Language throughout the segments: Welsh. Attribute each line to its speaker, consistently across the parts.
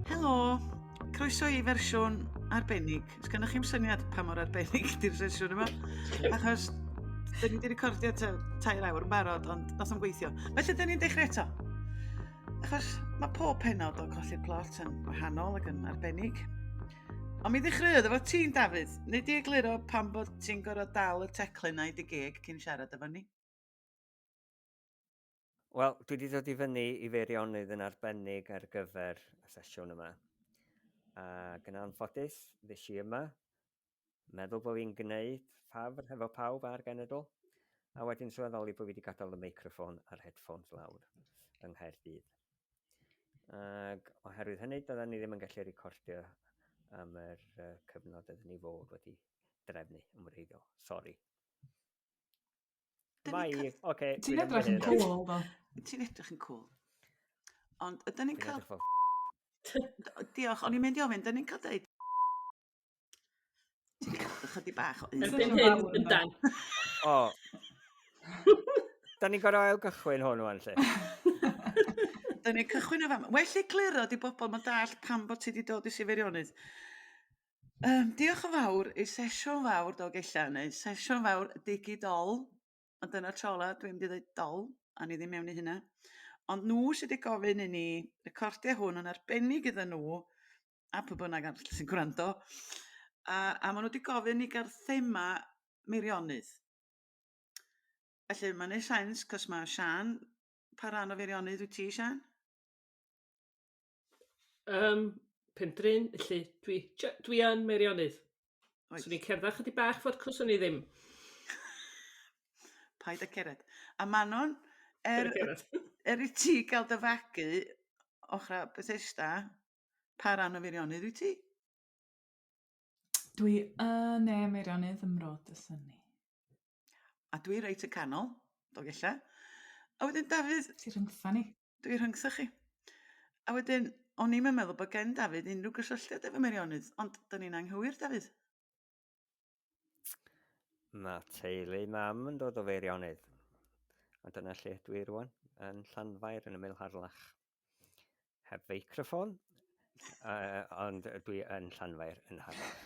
Speaker 1: Helo, croeso i fersiwn arbennig. Os gennych chi'n syniad pa mor arbennig di'r sesiwn yma? Achos, dyn ni wedi recordio tair awr yn barod, ond nos am gweithio. Felly, dyn ni'n dechrau eto. Achos, mae pob penod o Colli'r Plot yn wahanol ac yn arbennig. Ond mi ddechreuodd efo ti'n Dafydd. Neu di egluro pan bod ti'n gorfod dal y teclyn na i dy geg cyn siarad efo ni?
Speaker 2: Wel, dwi wedi dod i fyny i Feirionydd yn arbennig ar gyfer y sesiwn yma. A gyna anffodus, ddes i yma Meddwl bod fi'n gwneud ffafr hefo pawb a'r genedl, a wedyn sylweddoli bod fi wedi gadael y meicroffon a'r headphones lawr yng Nghaerdydd. Ac oherwydd hynny, doedden ni ddim yn gallu recordio am yr uh, cyfnod ydyn ni fod wedi drefnu yn wreiddiol. Sori.
Speaker 3: Mae, oce. Okay, Ti'n edrych yn cool, do. Ti'n edrych yn
Speaker 1: cool. Ond ydyn ni'n cael... Diolch, o'n i'n mynd i ofyn, ydyn ni'n cael dweud Ti'n cael ychydig bach o un. Erbyn hyn, yndan.
Speaker 4: O.
Speaker 2: da ni'n gorau ail gychwyn hwn o'n lle.
Speaker 1: da ni'n cychwyn o fan. Well i gliro di bobl mae dall pam bod ti wedi dod i Sifirionnydd. Um, diolch yn fawr i sesiwn fawr dog eilla neu sesiwn fawr digidol. A dyna'r tro la, dwi'n mynd i ddweud dol, a ni ddim mewn i hynna. Ond nhw sydd wedi gofyn i ni recordio hwn yn arbennig iddyn nhw, a pw bynnag arall sy'n gwrando a a ma' nw 'di gofyn i ga'l thema Meirionnydd. Felly ma'n neu' sense 'c'os ma' Siân... Pa ran o Feirionnydd wyt ti Siân?
Speaker 4: Yym pen dryn felly dwi jy- dwi yn Meirionnydd. Wyt. Swn i'n cerdda chydig bach fod cws o'n i ddim.
Speaker 1: Paid a cered. A Manon er... Paid a cered. ...er i ti ga'l dy fagu ochra Bethesda Pa ran o Feirionydd wyt ti? Dwi
Speaker 3: yn ne Meirionydd ym Mrod y Synni.
Speaker 1: A dwi reit y canol, Dolgella. A wedyn Dafydd... Ti rhyngtha ni.
Speaker 3: Dwi rhyngtha chi.
Speaker 1: A wedyn, o'n i'm yn meddwl bod gen Dafydd unrhyw gysylltiad efo Meirionydd, ond dyn ni'n anghywir, Dafydd.
Speaker 2: Mae teulu mam yn dod o Feirionydd. A dyna lle ydw i rwan, yn Llanfair, yn ymyl Harlach. Heb feicroffon, uh, ond dwi yn Llanfair, yn Harlach.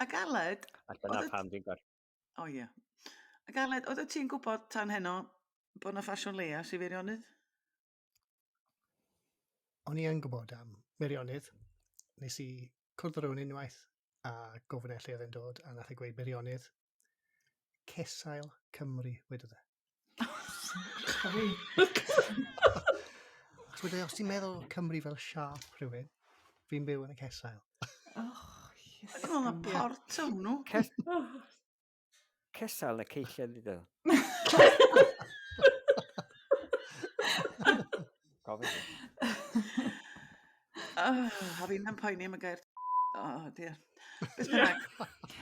Speaker 2: A
Speaker 1: Galed... A dyna pam dwi'n
Speaker 2: gorfod. O ie.
Speaker 1: A Galed, oedd ti'n gwybod tan heno bod yna ffasiwn leia i Feirionydd?
Speaker 5: O'n i yn gwybod am Meirionnydd. Nes i cwrdd â rhywun unwaith a gofyn e lle oedd e'n dod a nath e gweud Meirionnydd. Cesail Cymru, wedodd e. Achos wedi, os ti'n meddwl Cymru fel siap rhywun, fi'n byw yn y cesail. Oh,
Speaker 1: yes. Ddim ond port o'n nhw.
Speaker 2: Cesal y ceisiau ddiddo. Gofyn. Oh,
Speaker 1: a fi'n yn poeni am y gair Oh, dear. Beth bynnag.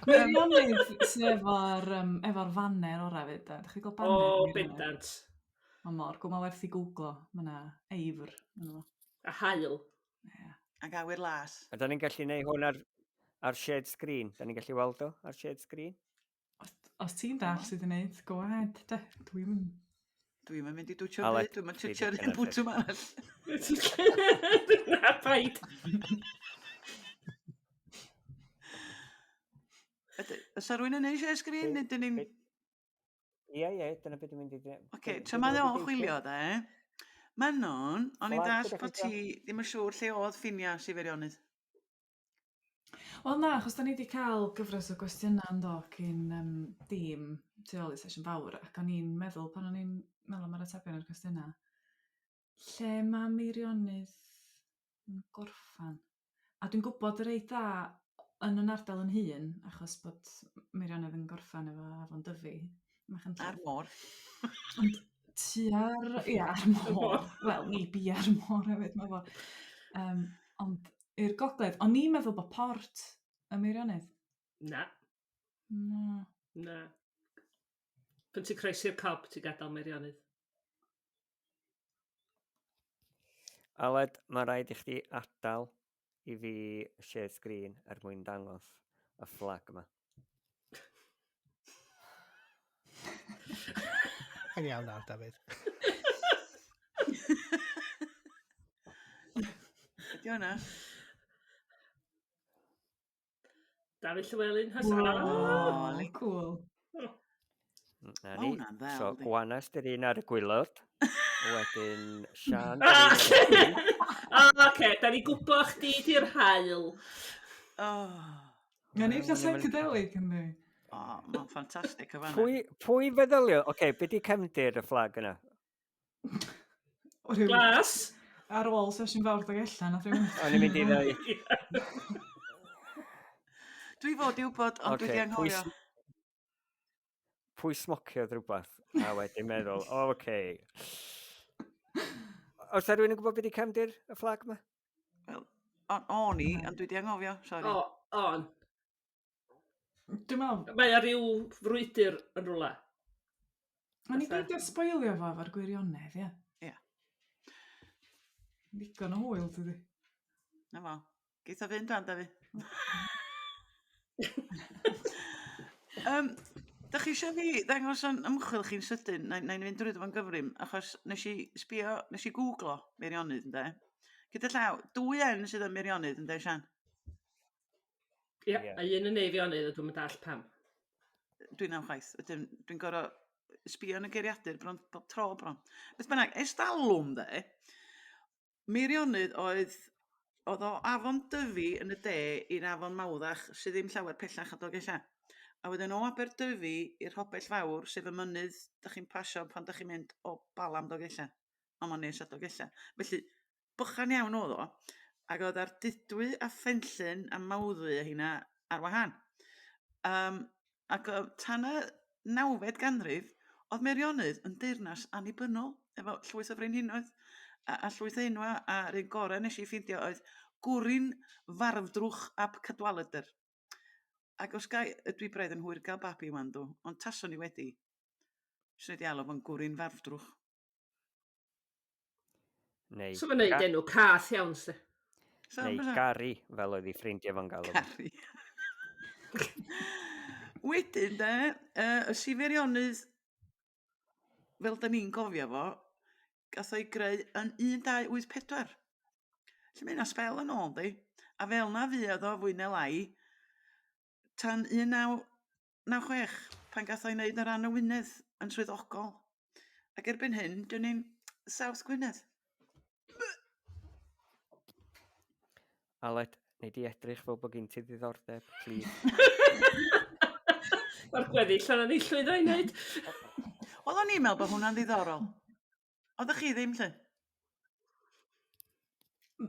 Speaker 1: Mae'n rhywbeth
Speaker 3: sydd efo'r um, efo fanner o'r rhaid. Da chi gweld banner? O, oh, bendant.
Speaker 4: Mae mor
Speaker 3: gwmol werth i googlo. Mae yna eifr. A
Speaker 4: hael. Yeah. Ac
Speaker 1: awyr las. A da ni'n gallu neud hwn
Speaker 2: ar, ar shared screen. Da ni'n gallu weld o ar shared screen. Os, os
Speaker 3: ti'n dall sydd yn neud, go ahead. De, dwi'n mynd.
Speaker 1: Dwi'n mynd i dwtio byd, dwi'n mynd twtio rhywun bwt yma arall. Na,
Speaker 4: paid.
Speaker 1: Ys rwy'n yn eisiau sgrin, nid yn ni'n...
Speaker 2: Ie, ie, dyna beth dwi'n mynd i dweud. Oce, okay, tra mae o'n
Speaker 1: chwilio dde, Manon, o'n i'n dall bod ti ddim yn siŵr lle oedd ffinia si feirionnydd.
Speaker 3: Wel na, achos da ni wedi cael gyfres o gwestiynau yn dod cyn um, dîm tu ôl i sesiwn fawr, ac o'n i'n meddwl pan o'n i'n meddwl am yr atebion i'r cwestiynau, lle mae Meirionnydd yn gorffen. A dwi'n gwybod y reit dda yn yn ardal yn hun, achos bod Meirionnydd yn gorffen efo Afon Dyfi. A'r môr.
Speaker 1: Ond
Speaker 3: tua'r... Ie, a'r môr. Wel, ni bi a'r môr hefyd, mae fo. Um, ond i'r gogledd. Ond ni'n meddwl bod port y Meirionnydd. Na. Na. Na.
Speaker 4: Pyn ti'n croesi'r cob, ti'n gadael Meirionnydd.
Speaker 2: Aled, mae rhaid i chdi adael i fi share screen er mwyn dangos y fflag yma.
Speaker 5: Yn iawn nawr, Dafydd.
Speaker 1: Ydy hwnna?
Speaker 4: Dafydd Llewelyn has Whoa. Oh, really
Speaker 3: cool.
Speaker 1: Na ni.
Speaker 2: So, Gwanas
Speaker 1: dy'r un
Speaker 2: ar y gwylod. Wedyn, Sian... Ah, oce, da
Speaker 4: ni gwybod chdi di'r hael. Oh.
Speaker 3: Na ni, da psychedelic yn ni. Oh, mae'n
Speaker 1: ffantastig o fanna. Pwy, pwy feddylio?
Speaker 2: Oce, okay, beth di cefndir y fflag yna? O, rhyw-
Speaker 4: Glas! Ar ôl
Speaker 3: sesiwn fawr dog allan, nath rhywun... O'n i'n mynd i ddau.
Speaker 1: Dwi fod i wybod, ond dwi Ocê, di anghofio. pwy
Speaker 2: Pwy smociodd rhywbeth a wedyn meddwl, o, oce. Os da rhywun yn gwybod beth i cefndir y fflag yma? Wel,
Speaker 1: o'n o'n i, ond dwi di anghofio, sori. O, on.
Speaker 3: Dwi'n meddwl... Mae o ryw
Speaker 4: frwydr yn rhywle.
Speaker 3: O'n ni beidio sboilio fo efo'r gwirionedd, ie. Ie. Ddigon o hwyl tydi? Na fo.
Speaker 1: Geith o fynd dan, da fi. um, da chi eisiau fi ddangos o'n ymchwil chi'n sydyn, na, na i'n fynd drwy ddo'n gyfrif, achos nes i sbio, nes i googlo Meirionnydd, ynde? Gyda llaw, dwy en sydd yn Meirionnydd, ynde, Sian?
Speaker 4: Ie, yeah. a un yn eifionydd, a dwi'n mynd all pam. Dwi'n am
Speaker 1: chwaith. Dwi'n dwi gorau sbio yn y geiriadur bron bob tro bron. Beth bynnag, estalwm dde, Meirionydd oedd oedd o afon dyfu yn y de i'r afon mawddach sydd ddim llawer pellach o Dolgellau. A wedyn o Aberdyfi i'r Hopell Fawr, sef y mynydd da chi'n pasio pan da chi'n mynd o Balam Dolgellau. Ond mae'n nes at Dolgellau. Felly, bychan iawn oedd o, ac oedd ar dudwy a phenllyn a mawddwy a hynna ar wahân. Um, ac oedd tan y nawfed ganrif, oedd Meirionydd yn deyrnas annibynnol, efo llwyth o frenhinoedd a, a llwyth enwa, a rhywun gorau nes i ffeindio oedd gwrin farfdrwch ab cadwaledr. Ac os gai, dwi braidd yn hwyr gael babi wan dw, ond tason ni wedi. Swn i wedi alw fo'n gwrin farfdrwch.
Speaker 2: Neu... So mae'n neud enw
Speaker 4: cath iawn, se. Neu
Speaker 2: Gary, fel oedd ei ffrindiau fo'n galw. Gary.
Speaker 1: Wedyn, de, uh, y siferionnydd, fel da ni'n gofio fo, gath o'i greu yn 1284. Lle mae yna spel yn ôl, di. A fel na fuodd o fwy neu lai, tan 19... 96 pan gath o'i wneud yn rhan o Wynedd yn swyddogol. Ac erbyn hyn, dyn ni'n South Gwynedd.
Speaker 2: Aled, neu di edrych fel bod gen ti ddiddordeb, plîs.
Speaker 4: Mae'r gweddill o'n ei llwyddo i wneud. Wel, o'n
Speaker 1: i'n meddwl bod hwnna'n ddiddorol. Oeddech chi ddim lle?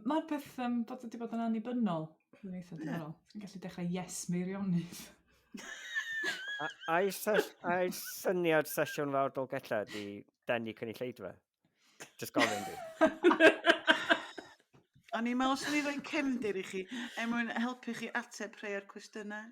Speaker 3: Mae peth um, bod wedi bod yn annibynnol. Dwi'n eitha diddorol. Ti'n gallu dechrau yes meirionydd.
Speaker 2: A'i syniad sesiwn fawr Dolgella di denu cynulleidfa? Just gofyn di.
Speaker 1: O'n i'n meddwl sy'n ei roi cefndir i chi, er mwyn helpu chi ateb rhai o'r cwestiynau.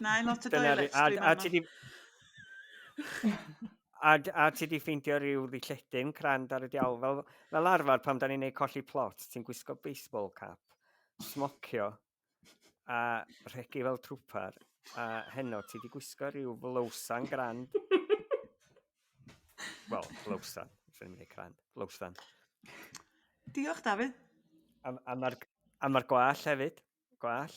Speaker 1: Na, i lot o doilets a,
Speaker 2: a ti di... a, a ti di ffeindio rhyw ddilledyn crand ar y diawl. Fel, fel arfer pan da ni'n neud colli plot, ti'n gwisgo baseball cap, smocio a rhegi fel trwpar. A heno ti di gwisgo rhyw flowsan grand. Wel, flowsan. Dwi'n mynd i crand. Flowsan.
Speaker 1: Diolch, David. A,
Speaker 2: a mae'r ma gwall hefyd. Gwall.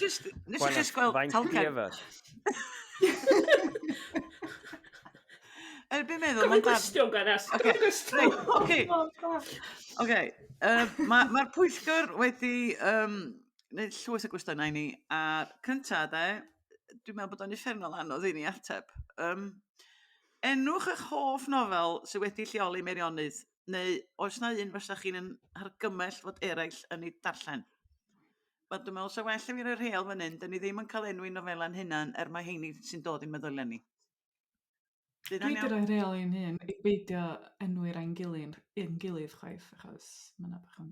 Speaker 1: Just, nes i just gweld talcen. Er byd meddwl, mae'n gwestiwn gan as.
Speaker 4: Oce, oce.
Speaker 1: Oce, mae'r pwyllgor wedi um, wneud llwys o gwestiynau ni, a cynta de, dwi'n meddwl bod o'n effernol anodd i ni ateb. Um, enwch eich hoff nofel sydd wedi lleoli Meirionnydd Neu oes 'na un fysa chi'n yn hargymell fod eraill yn ei darllen? Wel dwi me'wl sa well i fi roi rheol fan 'yn, 'dyn ni ddim yn ca'l enwi nofela'n hunan er ma' 'heini sy'n dod i'n meddylia ni.
Speaker 3: Dwi 'di roi rheol i'n hun i beidio enwi rai'n gilyn- i'n gilydd chwaith achos ma' 'na bach yn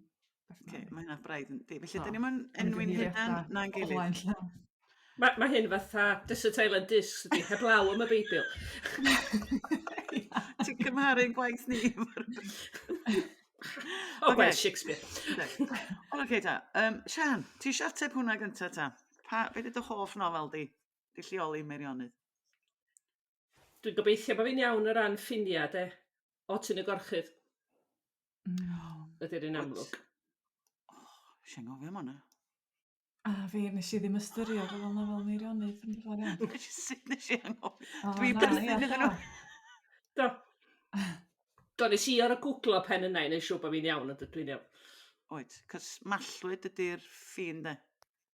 Speaker 3: Oce ma' hynna braidd yn
Speaker 1: di felly
Speaker 3: 'dan
Speaker 1: ni'm yn enwi'n
Speaker 3: hunan
Speaker 1: na'n gilydd. Ma'
Speaker 3: ma' hyn
Speaker 4: fatha Desert Island Discs ydi heblaw am y Beibl.
Speaker 1: Ti'n cymharu 'n gwaith ni efo'r Beibl.
Speaker 4: O gwaith Shakespeare. Wel oce
Speaker 1: ta yym Siân ti isio ateb hwnna gynta ta? Pa be' 'di dy hoff nofel di? Dy lleoli Meirionnydd.
Speaker 4: Dwi'n gobeithio bo fi'n iawn o ran ffinia' 'de. O Tŷ yn y Gorchudd. Mm. Ydy'r un amlwg. Oh,
Speaker 1: Sian gofio am hwnna. A
Speaker 3: fi, nes i ddim ystyried fel yna fel Meirionydd yn dod iawn. Sut nes i
Speaker 1: anghofio? Dwi beth iddyn
Speaker 3: nhw.
Speaker 1: Do.
Speaker 4: Do, nes i ar y googlo pen yna i wneud siw bod fi'n iawn, ond dwi'n iawn. Oed, cys
Speaker 1: mallwyd ydy'r ffin de.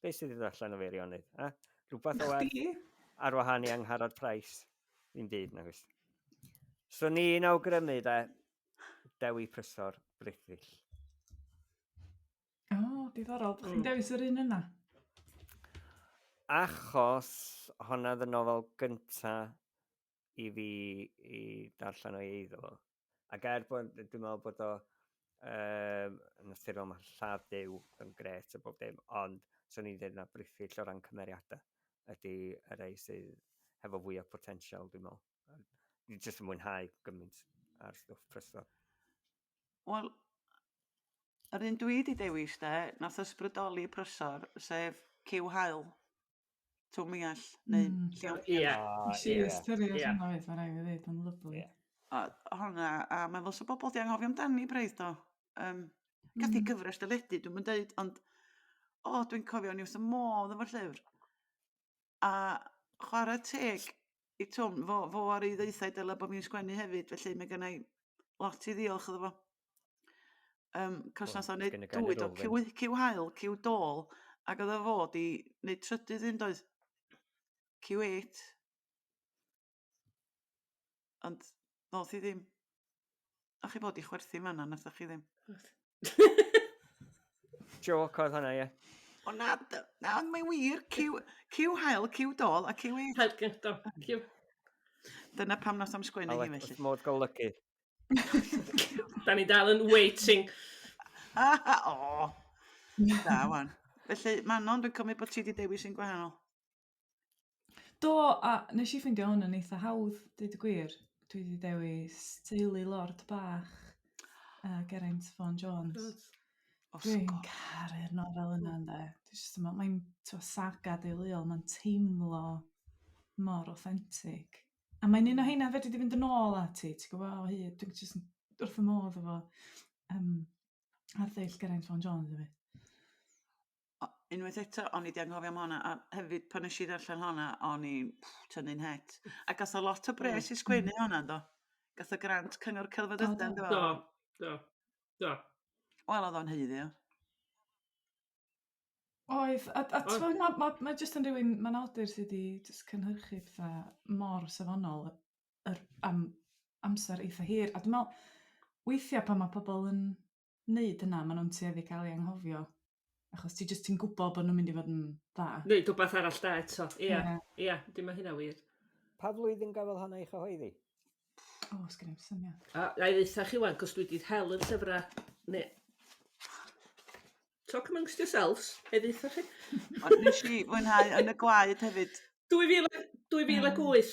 Speaker 2: Be sydd wedi allan o feirionydd? A? Rhywbeth o ar, ar wahan i Angharad Price. Fi'n byd, na gwrs. So ni'n awgrymu da Dewi Prysor Brithill.
Speaker 3: O, oh, diddorol. Chi'n mm. dewis yr un yna?
Speaker 2: Achos honna ddyn nofel gyntaf i fi i darllen o'i eiddo fo. Ac er bod, dwi'n meddwl bod o um, yn naturiol mae lladd Dyw yn gret a bob dim, ond swn i'n dweud na brithyll o ran cymeriadau ydy y rei sydd hefo fwy o potensial, dwi'n meddwl. Dwi'n jyst yn mwynhau gymaint ar stwff prysor.
Speaker 1: Wel, yr un dwi wedi dewis de, nath ysbrydoli prysor, sef Cyw Hael. Twm i all, neu mm. llaw piano. Ie. Ah, si
Speaker 4: ystyried
Speaker 3: yeah. hwnna fyd, mae'n rhaid i ddweud, yn lyflu. Yeah. A hwnna,
Speaker 1: a mae'n fos o bobl di anghofio amdani braidd do. Um, Gaf di mm. gyfres dyledu, dwi'n mynd dweud, ond o, dwi'n cofio ni wrth y modd efo'r llyfr. A chwarae teg, i t'w'm fo fo a rei ddwytha i dyle bo' fi'n sgwennu hefyd felly ma' gynna i lot i ddiolch iddo fo. Yym 'c'os nath o neud dwy do ciw wy- ciw haul ciw dôl ag o'dd o fod i neud trydydd un doedd? Ciw êt. Ond ddoth hi ddim. O'ch chi bod i chwerthu man na, nathoch chi ddim?
Speaker 2: Joc oedd hwnna, ie. O na,
Speaker 1: na, ond mae wir, cyw, cyw hael, cyw dol, a cyw ei... Hael cyw dol, cyw. Dyna pam nos am sgwennu hi felly. Modd golygu.
Speaker 4: da ni dal yn waiting. o,
Speaker 1: da wan. Felly, Manon, dwi'n cymryd bod ti wedi dewis yn gwahanol.
Speaker 3: Do, a nes i ffeindio hwn yn eitha hawdd, deud y gwir. Dwi wedi dewis teulu Lord Bach a Geraint Fôn Jones. Wrth Dwi'n gwrs. caru'r nofel yna ynde. Dwi jyst yn meddwl, mae'n t'mo' saga deuluol, mae'n teimlo mor authentic. A mae'n un o heina fedri di fynd yn ôl ati, ti'n gwybod, o hyd, dwi'n jyst yn wrth fy modd efo yym arddull Geraint Fôn Jones hefyd. o-
Speaker 1: unwaith eto o'n i 'di anghofio am honna a hefyd pan nesh i ddarllen honna o'n i tynnu'n het. A gath o lot o bres i sgwennu honna do? Gath o grant Cyngor Celfyddydau ynddo fo? Do, do, do.
Speaker 4: Wel
Speaker 1: odd o'n haeddu o.
Speaker 3: Oedd a a t'mod ma' ma' ma' jyst yn rywun ma'n awdur sy 'di jyst cynhyrchu petha mor safonol yr am amser eitha hir a dwi me'wl weithia' pan ma' pobol yn neud hynna ma' nhw'n tueddu cael ei anghofio achos ti jyst ti'n gwybod bod nhw'n mynd i fod yn dda. Neud rhywbeth arall da
Speaker 4: eto. Ia. Ia, yeah. dim mae hynna wir. Pa flwyddyn
Speaker 2: gafodd hon ei chyhoeddi? O, oh,
Speaker 3: sgyn i'n syniad. A, a i ddeitha chi
Speaker 4: wan, cos dwi wedi hel yn llyfrau, ne... Talk amongst yourselves, a i ddeitha chi. Ond nes i
Speaker 1: fwynhau yn y gwaed hefyd.
Speaker 4: 2000, 2008,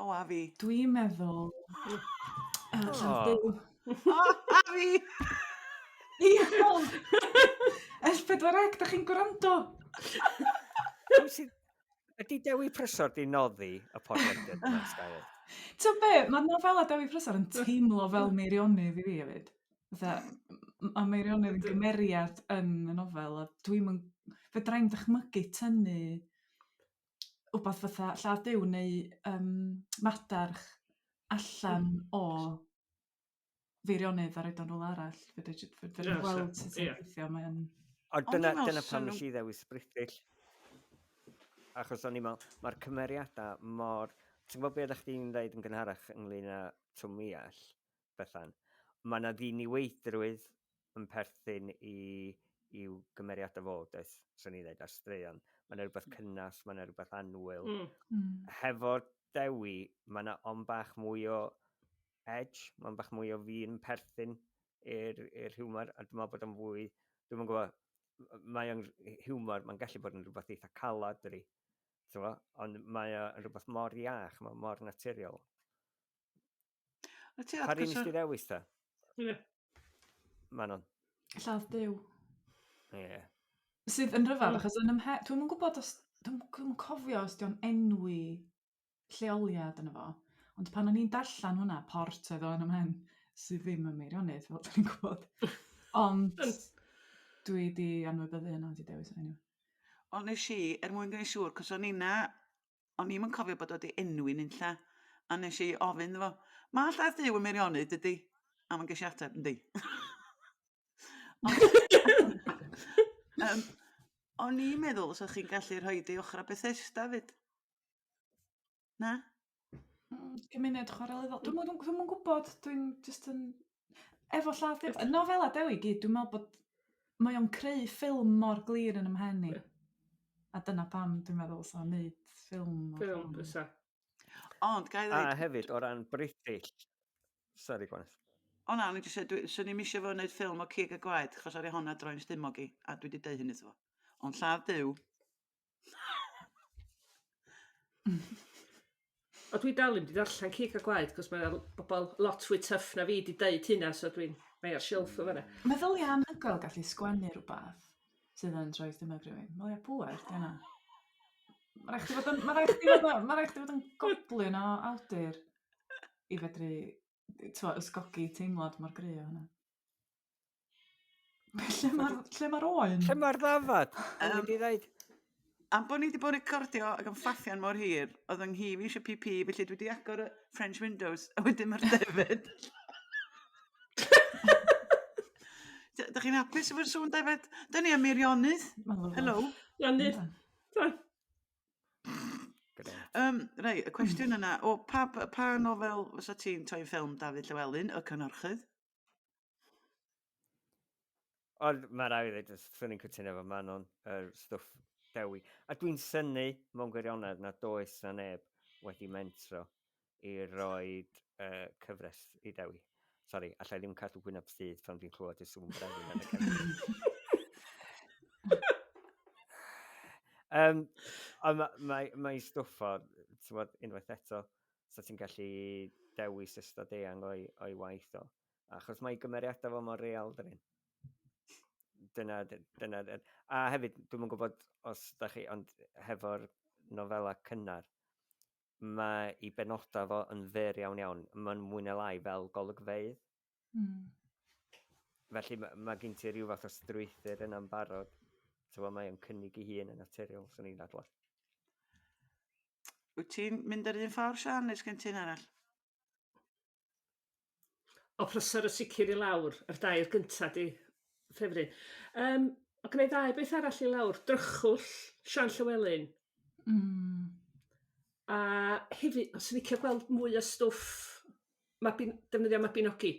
Speaker 3: O, a fi. Dwi'n meddwl... O!
Speaker 1: Llafduw.
Speaker 3: O, a fi! Diolch! S4C, da chi'n gwrando?
Speaker 2: Ydy Dewi Prysor di noddi y podlediad yn y sgael? Ti'n be, mae
Speaker 3: nofelau Dewi Prysor yn teimlo fel meirionydd i fi hefyd. Mae meirionydd yn gymeriad yn y nofel, a dwi'n mynd... Fe dra'n dychmygu tynnu 'wbath fath a lladd Duw neu yrm madarch allan o feirionnydd a roid o yn r'wle arall fedri j- fe- fedri gweld sut mae'n gweithio mae o'n... Ond dyna, dyna
Speaker 2: pam nes i ddewis British. Achos o'n i'n meddwl, mae'r cymeriadau mor... Ti'n gwybod beth ydych chdi'n dweud yn gynharach ynglyn â Twm Iall? Bethan. Mae yna ddiniweidrwydd yn perthyn i, i'w gymeriadau fo, does, swn i'n dweud, ar straeon. Mae yna rhywbeth cynnas, mae yna rhywbeth anwyl. Mm. Mm. Hefo Dewi, mae yna on bach mwy o edge, mae'n bach mwy o fi'n perthyn i'r, i'r hiwmor, a dwi'n meddwl bod o'n fwy, dwi'n meddwl gwybod, mae o'n hiwmor, mae'n gallu bod yn rhywbeth eitha calad, dydy. Ond mae o'n rhywbeth mor iach, mae mor naturiol. Wyt ti atgysio? Pa'r un nes di ddewis ta? Ie. Manon. Lladd byw.
Speaker 3: Ie.
Speaker 2: Yeah. Sydd
Speaker 3: yn rhyfedd, mm. achos yn ymhe... Dwi'n yn gwybod os... Dwi'n yn cofio os di'n enwi lleoliad yn efo. Ond pan o'n i'n darllen hwnna, port oedd o'n ymhen, sydd ddim yn meirionydd, fel dwi'n gwybod. Ond dwi wedi anwybyddu hynna, wedi dewis hynny. Ond nes i,
Speaker 1: er mwyn gwneud siŵr, cos o'n i'n na o'n i'm yn cofio bod o 'di enwi nunlle, a nes i ofyn iddo fo, ma' llaeth Duw yn Meirionnydd dydi? A mae'n ges i ateb, yndi. um, o'n i'n meddwl os o'ch chi'n gallu rhoi di ochr a Bethesda fyd. Na? Hmm, cymuned
Speaker 3: chwarelyddol. Dwi'n mwyn, dwi'n mwyn gwybod, dwi'n just yn Efo lladd gyf... Nofelau Dewi i gyd, dwi'n meddwl bod... Mae o'n creu ffilm mor glir yn ymhen i. A dyna pam dwi'n meddwl sa'n neud ffilm. Ffilm, fysa.
Speaker 4: Ond,
Speaker 1: gai ddweud... A hefyd, o ran
Speaker 2: British... Sorry, gwaneth. O na, o'n i jyst
Speaker 1: dweud, swn i'm eisiau fo wneud ffilm o cig a gwaed, chos ar ei honna droi'n stumog i, a dwi wedi dweud hyn iddo fo. Ond lladd Duw,
Speaker 4: O dwi dal ddim 'di darllen Cig a Gwaed 'c'os mae o'n bobol lot fwy tyff na fi 'di deud hynna so dwi'n mae ar shelf o fana. Meddylia anhygoel
Speaker 3: gallu sgwennu rhywbeth sydd yn rhoi stumog rhywun. Meddylia pŵer, di hwnna. Mae rhaid chdi fod yn, mae rhaid chdi fod yn, mae rhaid chdi fod yn goblin o awdur i fedru, t'mo, ysgogi teimlad mor gry o hwnna. Lle mae'r lle mae'r oen? Lle mae'r ddafad?
Speaker 2: O'n i 'di ddeud. Am bod ni
Speaker 1: wedi bod yn recordio ac yn ffaffian mor hir, oedd yng nghi fi eisiau PP, felly dwi wedi agor y French Windows, a wedyn mae'r defyd. Dych chi'n hapus efo'r sŵn defyd? Dyna ni am Meirionydd. Helo. Meirionydd. Um, rei, y cwestiwn yna, o pa, pa nofel fysa ti'n toi'n ffilm David Llewellyn, y cynorchydd?
Speaker 2: Ond mae rai i ddweud, swn i'n cytuno efo Manon, yr er stwff dewi. A dwi'n syni mewn gwirionedd na does na neb wedi mentro i roi uh, cyfres i dewi. Sori, allai ddim cadw gwyneb sydd pan fi'n clywed y sŵn brefu yn y cyfres. um, ond mae, mae, mae stwff o, unwaith eto, 'sa ti'n gallu dewis ystod eang o'i, o'i waith o. Achos mae gymeriadau fo mor real, dyn nhw. Dyna, dyna, a hefyd, dwi'n yn gwybod os da chi, ond hefo'r nofela cynnar, mae i benodau fo yn fer iawn iawn, mae'n mwy na lai fel golygfeidd, Mm. Felly mae, mae gen ti rhyw fath o strwythyr yna'n barod. So mae o'n cynnig i hun yn naturiol, swn i'n adlod.
Speaker 1: Wyt ti'n mynd yr un ffordd, Sian, neu sgen ti'n arall?
Speaker 4: O, prosor y sicr i lawr, yr dair gynta di, ffefryn. Um, o gwneud ddau beth arall i lawr, drychwll, Sian Llywelyn. Mm. A hefyd, os licio gweld mwy o stwff ma' bin- defnyddio Mabinogi.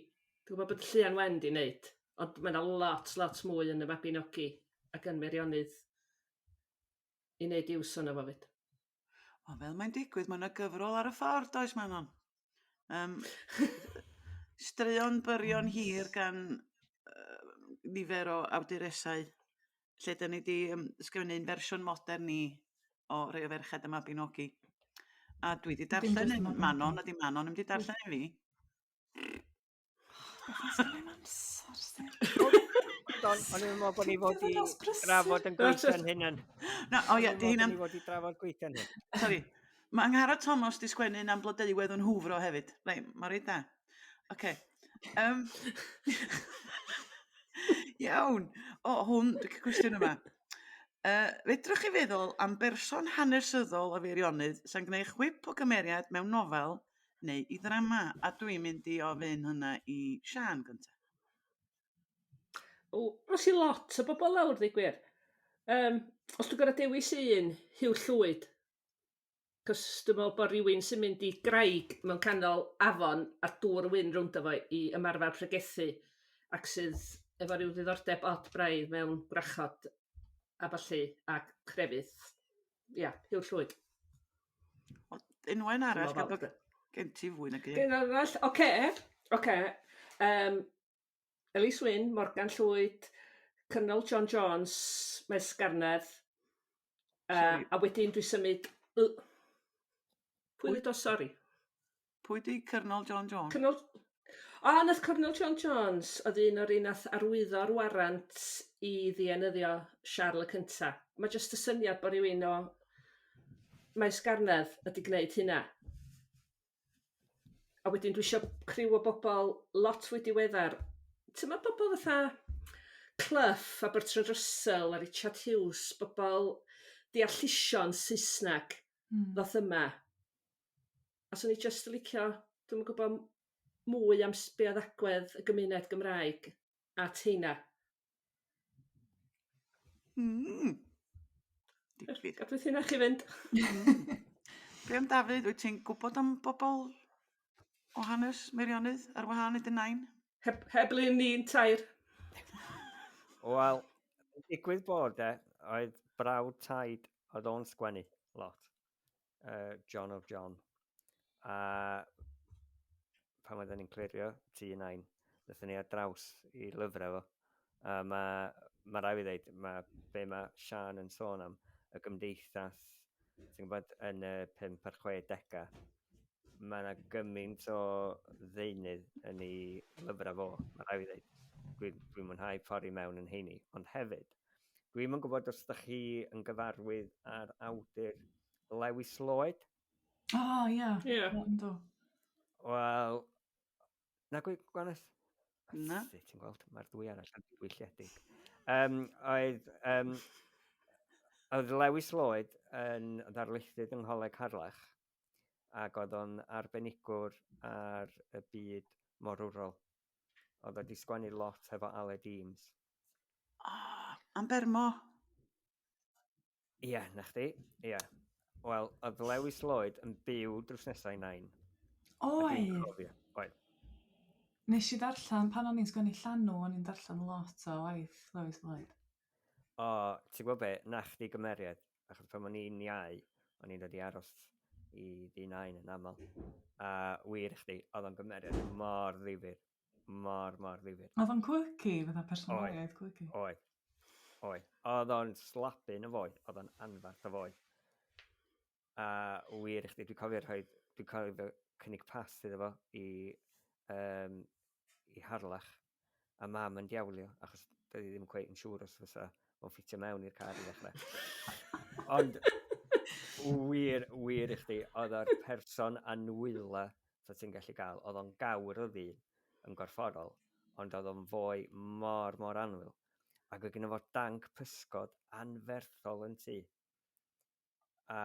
Speaker 4: Dwi gwbod bod Lleuan Wen 'di neud ond ma' 'na lot lot mwy yn y Mabinogi ac yn Meirionydd i neud iws ono fo 'fyd. Ond fel
Speaker 1: mae'n digwydd mae 'na gyfrol ar y ffordd does Manon? Yym straeon byrion hir gan yy nifer o awduresau lle 'dyn ni 'di yym sgwennu un fersiwn modern i o Rei o Ferched y Mabinogi. A dwi 'di darllen un, Manon ydi Manon, ddim 'di darllen un fi.
Speaker 3: Don,
Speaker 2: o'n i'n meddwl bod ni fod i drafod
Speaker 3: yn gweithio'n
Speaker 2: hynna'n... Na, o ie, di hynna'n... O'n
Speaker 1: i'n meddwl bod ni fod i drafod
Speaker 2: gweithio'n hyn. Sori. Mae
Speaker 1: Angharad Thomas di sgwennu un am blodeuwedd yn hwfro hefyd. Rei, mae reit da. Oce. Yym. Iawn. O hwn dwi ca'l cwestiwn yma. Yy fedrwch chi feddwl am berson hanesyddol o Feirionnydd sy'n gwneu' chwip o gymeriad mewn nofel neu i ddrama? A dwi'n mynd i ofyn hwnna i Siân gynta'. O,
Speaker 4: os i lot o bobl lawr ddeu gwir. Yym os dwi'n gor'o' dewis un, Huw Llwyd. 'C'os dwi me'wl bo' rywun sy'n mynd i graig mewn canol afon a dŵr yn mynd rowndo fo i ymarfer pregethu ac sydd efo ryw ddiddordeb od braidd mewn gwrachod a ballu a crefydd ia huw llwyd. O unwaith
Speaker 1: arall gan bod gen
Speaker 4: ti
Speaker 1: fwy nag un. Genai arall oce
Speaker 4: oce yym Ellis Wyn, Morgan Llwyd, Cynwal John Jones, Maes Sgarnedd.
Speaker 1: Yy a wedyn dwi
Speaker 4: symud y Pwy wedodd sori? Pwy 'di
Speaker 1: Cyrnol John Jones? Cyrnol O
Speaker 4: 'na th- Cyrnol John Jones oedd un o'r un nath arwyddo'r warant i ddienyddio Siarl y cynta. Ma' jyst y syniad bo' rywun o Maes Garnedd wedi gneud hynna. A wedyn dwi isio criw o bobol lot fwy diweddar t'mod pobol fatha Clough a Bertrand Russell a Richard Hughes bobol deallusion Saesneg... Hmm. ...ddoth yma a swn i jyst yn licio dwi'm yn gwbo m- mwy am s- be' odd agwedd y gymuned Gymraeg at heina. Mm. Digfydd. Gadw sy'n eich i fynd.
Speaker 1: Be am Dafydd, wyt ti'n gwybod am bobl o hanes Meirionydd ar wahân i dy nain? Heb, heb le ni'n
Speaker 4: tair.
Speaker 2: Wel, digwydd bod e, oedd brawd taid oedd o'n sgwennu lot. uh, John of John. A pan oedden ni'n clirio tu yn ein, ddethon ni ar draws i lyfrau fo. A mae, mae rai fi ddeud, mae be mae Sian yn sôn am, y gymdeithas, ti'n gwybod, yn y 5 a'r 60au, mae yna gymaint o ddeunydd yn ei lyfrau fo, mae rai fi ddeud. Dwi'n dwi mwynhau ffordd i mewn yn heini, ond hefyd, Dwi'm yn gwybod os ydych chi yn gyfarwydd â'r awdur Lewis Lloyd? O, oh, ia.
Speaker 3: Yeah. Ia. Yeah. Wel,
Speaker 2: na gwy, gwanes? Na.
Speaker 1: Ti'n gweld, mae'r
Speaker 2: ddwy arall yn gwylledig. Um, oedd, um, oedd Lewis Lloyd yn ddarlithydd yng Ngholeg Harlech ac oedd o'n arbenigwr ar y byd morwrol. Oedd wedi sgwennu lot hefo Aled Eames. Ah,
Speaker 1: am bermo. Ie,
Speaker 2: yeah, na chdi. Ie. Yeah. Wel, oedd Lewis Lloyd yn byw drws nesau i nain. Oedd. Oedd. Nes i
Speaker 3: ddarllen pan o'n i'n sgwennu llanw, o'n i'n darllen lot o waith Lewis Lloyd. O,
Speaker 2: ti'n gwybod be, na chdi gymeriad, achos pan o'n i'n iau, o'n i'n dod i aros i ddi nain yn aml. A wir i chdi, oedd o'n gymeriad mor ddifur. mor, mor ddifir. Oedd o'n quirky,
Speaker 3: fydda personoliaeth quirky. Oedd,
Speaker 2: oedd. Oedd o'n slabyn y foi, oedd o'n anfarth y foi. A wir i chdi, dwi'n cofio rhoi, dwi'n cofio cynnig pas iddo fo i, um, i Harlech, a mam yn diawlio, achos dwi ddim yn cweith yn siŵr os fysa o'n ffitio mewn i'r car i ddechrau. Ond wir, wir i chdi, oedd o'r person anwyla so ti'n gallu gael, oedd o'n gawr oedd hi yn gorfforol, ond oedd o'n fwy mor, mor anwyl. Ac oedd gen fo danc pysgod anferthol yn ti. A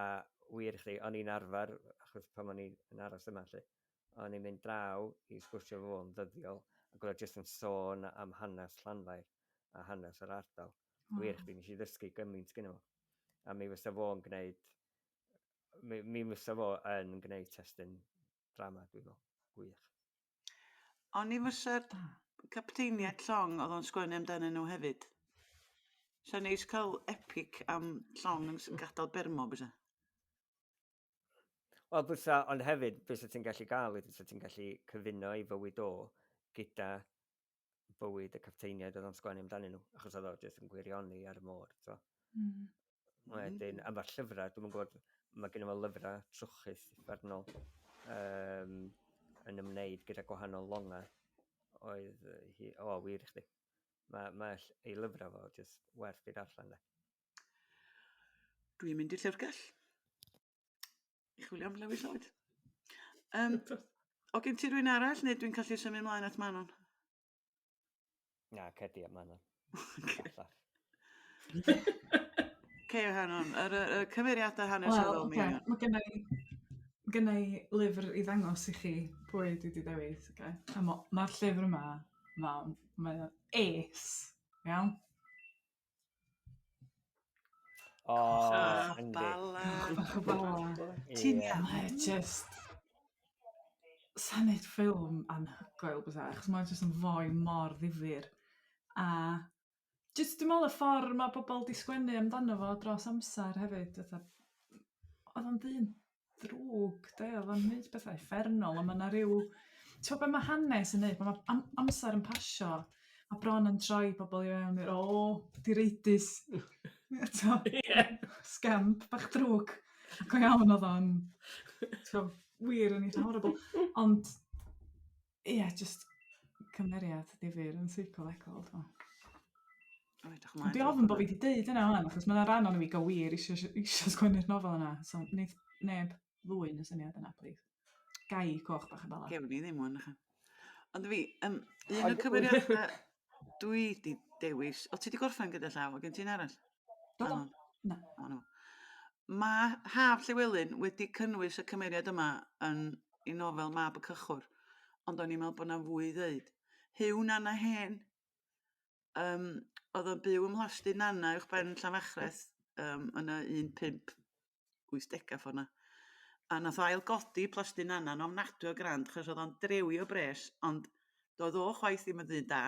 Speaker 2: wir i chdi, o'n i'n arfer, achos pan o'n i'n aros yma lle, o'n i'n mynd draw i sgwrsio fo yn ddyddiol, ac oedd jyst yn sôn am hanes Llanfair a hanes yr ardal. Oh. Wir chdi, nes i ddysgu gymaint gyda fo. A mi fysa fo'n gwneud mi, mi fysa fo yn gwneud testyn drama, dwi'n meddwl. Gwych.
Speaker 1: Ond ni fysa'r capteiniaid llong oedd o'n sgwennu amdanyn nhw hefyd. Sa'n neis cael epic am llong yn gadael bermo, bysa?
Speaker 2: Wel, bysa, ond hefyd, bysa ti'n gallu gael, bysa ti'n gallu cyfuno i fywyd o gyda bywyd y capteiniaid oedd o'n sgwennu amdanyn nhw, achos oedd o jyst yn gwirioni ar y môr, to. Mm. Wedyn, mm. am mae'r llyfrau, dwi'n gwybod, mae gen i fo lyfrau trwchus uffernol um, yn ymwneud gyda gwahanol longau oedd hi, o, oh, wir i chdi. Mae, mae ei lyfrau fo jyst werth i darllen, le.
Speaker 1: Dwi'n mynd i llyfrgell. chwilio am Lewis Lloyd. Um, o gen ti rwy'n arall, neu dwi'n callu symud ymlaen at Manon?
Speaker 2: Na, cedi at Manon.
Speaker 1: Ceo Hanon, yr, y, y cymeriadau hanesyddol well, okay. Mae gennau
Speaker 3: gynna i lyfr i ddangos i chi pwy dwi wedi dewis. Okay? A mae'r ma llyfr yma, mae'n ma, ma es, iawn? O,
Speaker 1: Ah, yndi. bala. Bach o bala. Ti'n Ie. iawn? Mae just...
Speaker 3: Sa'n neud ffilm anhygoel bysa, achos mae'n just yn fwy mor ddifyr. A just dwi'n meddwl y ffordd mae pobl di sgwennu amdano fo dros amser hefyd, fatha... Oedd o'n ddyn ddrwg 'de o'dd o'n neud petha' uffernol a ma' 'na ryw t'o' be' ma' hanes yn neud pan ma' am- amser yn pasio ma' bron yn troi pobol i fewn i'r o direidus eto. Ie. Scamp bach drwg. Go iawn odd o'n t'o' wir yn eitha horrible ond Ia jyst cymeriad difyr yn seicolegol dwi me'wl. O edrych ymlaen. Dwi ofn bo' fi 'di deud yna 'wan achos ma' 'na ran ono fi go wir isio isio sgwennu'r nofel yna so neith neb ddwyn y syniad yna plîs. Gai coch bach a bala? Gewn ni ddim ŵan nachan.
Speaker 1: Ond fi yym un o'r cymeriada dwi 'di dewis o ti 'di gorffen gyda llaw o' gen ti un arall?
Speaker 3: Do, do. Na. O na.
Speaker 1: Mae Haf Llewelyn wedi cynnwys y cymeriad yma yn ei nofel Mab y Cychwr, ond o'n i'n meddwl bod 'na fwy i ddeud. Huw Nana Hen, um, oedd yn byw ym mhlasty Nana uwch ben Llanfachreth um, yn y 15 wythdega ffor 'na. A nath o ail godi plasty Nana'n ofnadwy o grand achos o'dd o'n drewio bres ond doedd o chwaith ddim yn ddyn da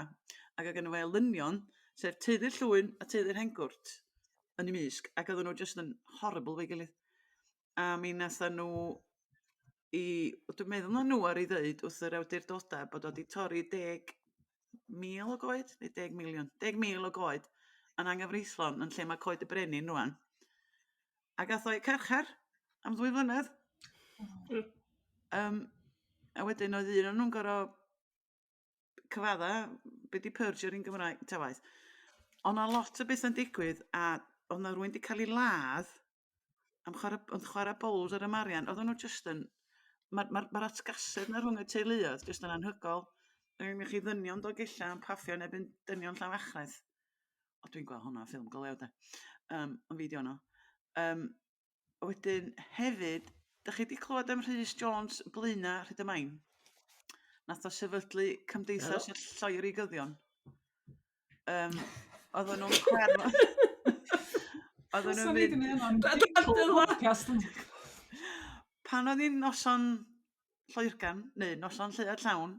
Speaker 1: ac o' gynno fo elynion sef teulu Llwyn a teulu Rhengwrt yn 'i mysg ac oedden nhw jyst yn horrible 'fo'i gilydd. A mi natha nhw i... Wel dwi meddwl ma' nhw ar i ddeud wrth yr awdurdoda bod o 'di torri deg mil o goed neu deg miliwn? Deg mil o goed yn anghyfreithlon yn lle ma' coed y brenin rŵan. A gath o eu carchar am ddwy flynedd. Hmm. Yym a wedyn oedd un o'n nhw'n gor'o' cyfadda be' 'di purge ar un Gymraeg ta waeth. O' 'na lot o betha'n digwydd a o' 'na rywun 'di ca'l 'i ladd am chwara b- ond chwara bowls ar y Marian oddan nhw jyst yn ma' ma'r ma'r atgasedd 'na rhwng y teuluoedd jyst yn anhygol. Mae gennych chi ddynion Dolgellau yn paffio yn erbyn dynion Llawachres. O dwi'n gweld hwnna ffilm go lew 'de. Yym yn fideo yno. Yym a wedyn hefyd dych chi 'di clywed am Rhys Jones Blaena Rhyd y Main? Nath o sefydlu Cymdeithas y Lloerigyddion. Yym oedden nhw'n clem... Oedden nhw'n mynd... Pan oedd hi'n noson Lloegr neu noson Lleuad Llawn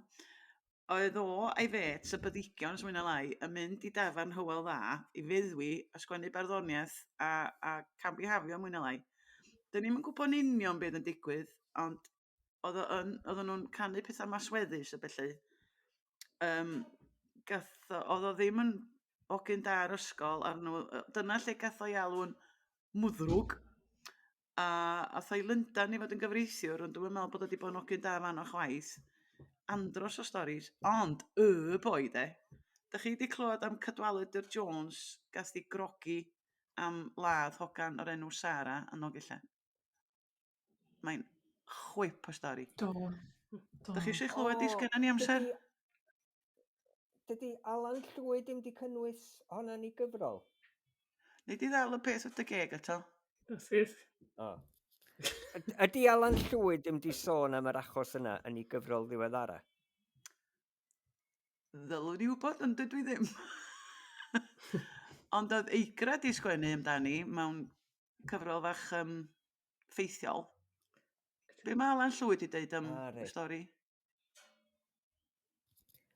Speaker 1: oedd o a'i fêts y Brydeigion os mwy na lai yn mynd i dafarn Hywel Dda i feddwi a sgwennu barddoniaeth a a camddihafio mwy na lai. 'Dyn ni'm yn gwybod yn union be oedd yn digwydd ond oedd o yn oedden nhw'n canu petha' masweddus a bellu yym gath o odd o ddim yn hogyn da ar ysgol a nhw yy dyna lle gath o'i alw'n mwddrwg a ath o i Lundan i fod yn gyfreithiwr ond dwi'm yn me'wl bod o 'di bod yn ogyn da fan 'no chwaith. Andros o storis ond y boi 'de? Dach chi 'di clywed am Cadwaladr Jones gath 'i grogi am ladd hogan o'r enw Sara yn Nolgella? Mae'n chwip o stori. Do. Do.
Speaker 3: Dych chi eisiau
Speaker 1: chlywed oh, sgynnon ni amser? Dydy,
Speaker 2: dydy Alan Llwyd ddim wedi cynnwys honna ni gyfrol. Nid i
Speaker 1: ddal y peth wrth y geg eto. That's it.
Speaker 4: O.
Speaker 2: Ydy Alan Llwyd ddim wedi sôn am yr achos yna yn ei gyfrol ddiweddara?
Speaker 1: Ddylwn i wybod, ond dydw i ddim. ond oedd eigra di sgwennu amdani mewn cyfrol fach um, ffeithiol. Be mae Alan Llwyd i ddeud am ah, y stori?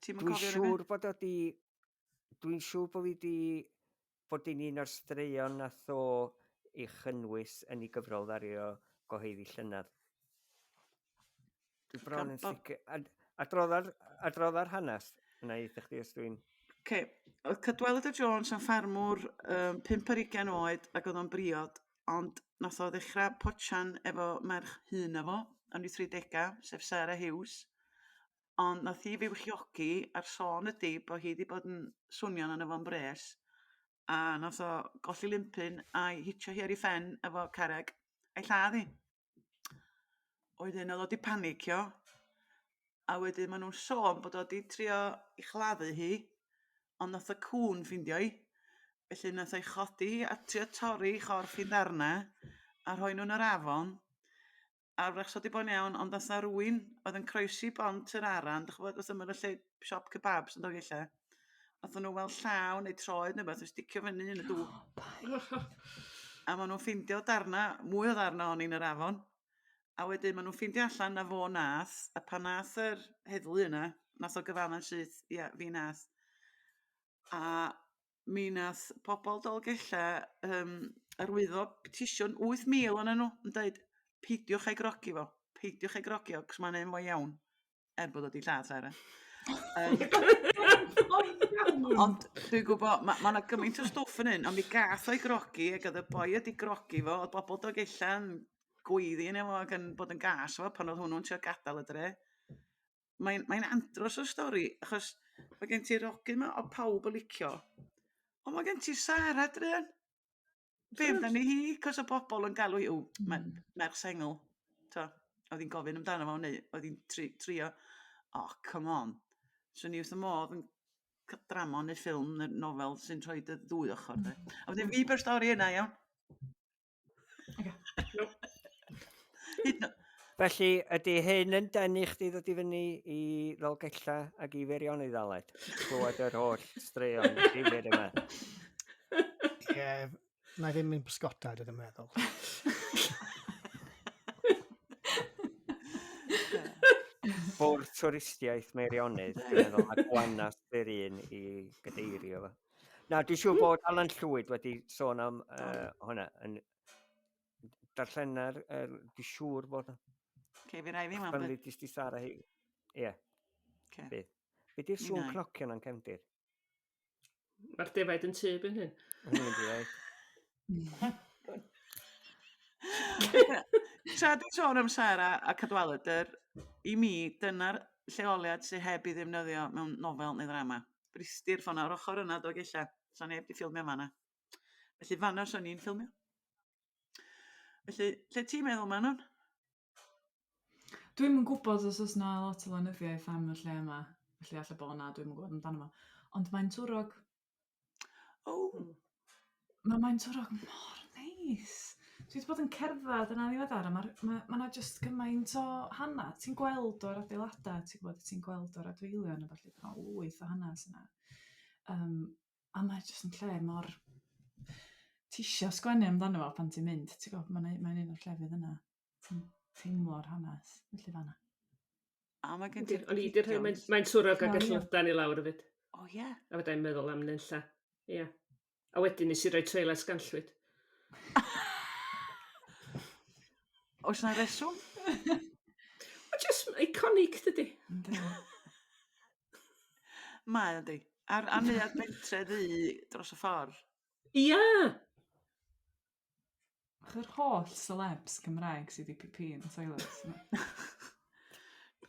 Speaker 2: Dwi'n siŵr bod o di... Dwi'n siŵr bod fi di... Bod i'n un o'r straeon a tho i chynnwys yn ei gyfrol ddario goheiddi llynedd. Dwi bron yn sicr. Adrodda'r, adrodda'r hanes yna i chdi os dwi'n... Okay. Oedd
Speaker 1: Cadwaladr Jones yn ffarmwr um, 5 ar 20 oed ac oedd o'n briod, ond nath o ddechrau potsian efo merch hun efo, yn ei 30au, sef Sarah Hughes. Ond nath hi fyw chiogi a'r sôn ydy bod hi wedi bod yn swnio'n yna fo'n bres a nath o golli limpyn a'i hitio hi ar ei ffen efo carreg a'i lladd hi. oedd un oedd o 'di panicio, a wedyn maen nhw'n sôn bod o 'di trio i chladdu hi, ond nath y cŵn ffindio hi, felly nath o'i chodi hi a trio torri chorff i ddarna, a rhoi nhw'n yr afon, a wrach wedi bod yn iawn, ond nath na rwy'n oedd yn croesi bont yr aran, dych chibod, wrth ymyl y lle siop kebabs yn dod i lle. Nathon nhw weld llaw neu troed ne' wbath yn sticio fyny yn y dŵr. O paid. A ma' nhw'n ffeindio darna mwy o ddarna ohoni yn yr afon. A wedyn ma' nhw'n ffeindio allan na fo nath a pan nath yr heddlu yna nath o gyfadda'n syth ia fi nath. A mi nath pobol Dolgella yym arwyddo petisiwn 8,000 onyn nhw yn deud peidiwch â'i grogi fo peidiwch â'i grogi o 'c'os ma'n enw fo iawn. er bod o 'di lladd Sara. Ond dwi'n gwybod, mae ma 'na gymaint o stwff yn hyn, ond mi gath o'i grogi ac oedd y boi wedi grogi fo, oedd bobl Dolgellau yn gweiddi yn efo ac yn bod yn gas efo pan oedd hwnnw'n trio gadael y dre. Mae'n mae andros o stori, achos mae gen ti'r ogyn 'ma o pawb yn licio, ond mae gen ti Sara druan. Fe fydda ni hi, cos o bobl yn galw hi, o, mae hmm. merch sengl. To, oedd hi'n gofyn amdano fo, neu oedd hi'n tri, trio, o, oh, come on. So ni wrth y modd yn drama neu ffilm neu nofel sy'n rhoi dy ddwy ochr. De. Hmm. A wedyn fi byr stori yna, iawn.
Speaker 2: Okay. Felly, ydy hyn yn denu chdi ddod i fyny i Ddolgella ac i Feirion i ddaled? Clywed yr holl straeon difyr yma.
Speaker 5: Ie, na ddim yn bysgota, dwi'n meddwl.
Speaker 2: Bwrdd twristiaeth Meirionydd, dwi'n meddwl, mae Gwanas yr un i gadeirio fo. Na, dwi'n siŵr bod Alan Llwyd wedi sôn am uh, hwnna yn, darllena'r, er, di siŵr bod... Okay, fi rai fi
Speaker 1: weld. Pan jyst i Sara hi.
Speaker 2: Ie. Okay. Be? Be di'r sŵn cnocio na'n cefndir?
Speaker 4: Mae'r defaid yn tyb yn hyn. Hwnnw'n defaid.
Speaker 1: Tra di sôn am Sara a Cadwaladr, i mi, dyna'r lleoliad sy'n heb i ddefnyddio mewn nofel neu ddrama. Bristir ffona o'r ochr yna, dog eich. Sa'n heb di ffilmio fanna. Felly fanna o'n i'n ffilmio. Felly, lle ti'n meddwl, Manon? Dwi'm
Speaker 3: yn gwybod os oes na lot o lenyddiaeth am y lle yma, felly allai bod na, dwi'm yn gwybod amdano fo. Ond mae'n twrog. O! Oh. Mae mae'n twrog mor neis. Dwi wedi bod yn cerdded yna ddiweddar a mae ma, ma yna jyst gymaint o hana. Ti'n gweld o'r adeiladau, ti'n gwybod, ti'n gweld o'r adfeilion a falle bod yna lwyth o hanes yna. Um, a mae o jyst yn lle mor... Ti isio sgwennu amdano fo pan ti'n mynd ti'n gwybod, mae'n un o'r llefydd yna ti'n teimlo'r hanes felly fan'na. A mae
Speaker 1: gen ti'r... Ond i rhai mae'n mae'n
Speaker 4: twrog ac yn llwydan i lawr hefyd. O ie. Yeah. A fydda i'n
Speaker 1: meddwl am
Speaker 4: nunlla. Ie. Yeah. A wedyn nes i roi trailer sganllwyd.
Speaker 1: Oes yna reswm?
Speaker 4: Mae jyst iconic dydy.
Speaker 1: Mae yndi. A'r a'r neuadd bentre ddu dros y ffor. Ia!
Speaker 4: Ac
Speaker 3: yr holl celebs Cymraeg sy 'di pî-pî yn y toilet.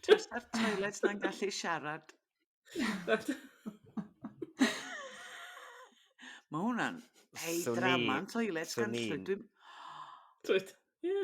Speaker 3: Jyst
Speaker 1: a'r toilet 'na'n gallu siarad. Mae hwnna'n ei drama yn toilet gan llwyd. Dwi'n...
Speaker 4: Twyd. Ie.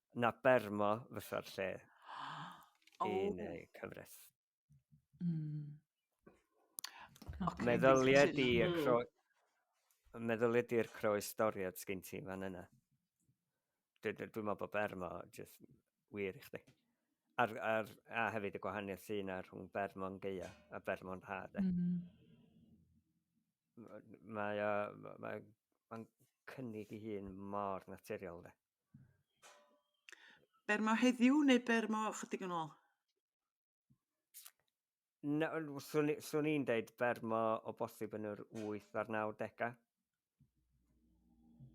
Speaker 2: na Bermo fysa'r lle oh. yn ei cyfres. Mm. Okay, meddylia di y hmm. cro... Meddylia di'r croes doriad sgyn ti fan yna. Dwi'n dwi, dwi meddwl bod Bermo just wir i chdi. Ar, ar, a hefyd y gwahaniaeth sy'n ar rhwng Bermo'n geia a Bermo'n rhad. Mm -hmm. Mae, mae, mae, mae cynnig i hun mor naturiol. De.
Speaker 1: Ber mo heddiw neu ber mo chydig yn ôl?
Speaker 2: No, swn i'n deud ber mo o bosib yn yr 8 a'r 90au.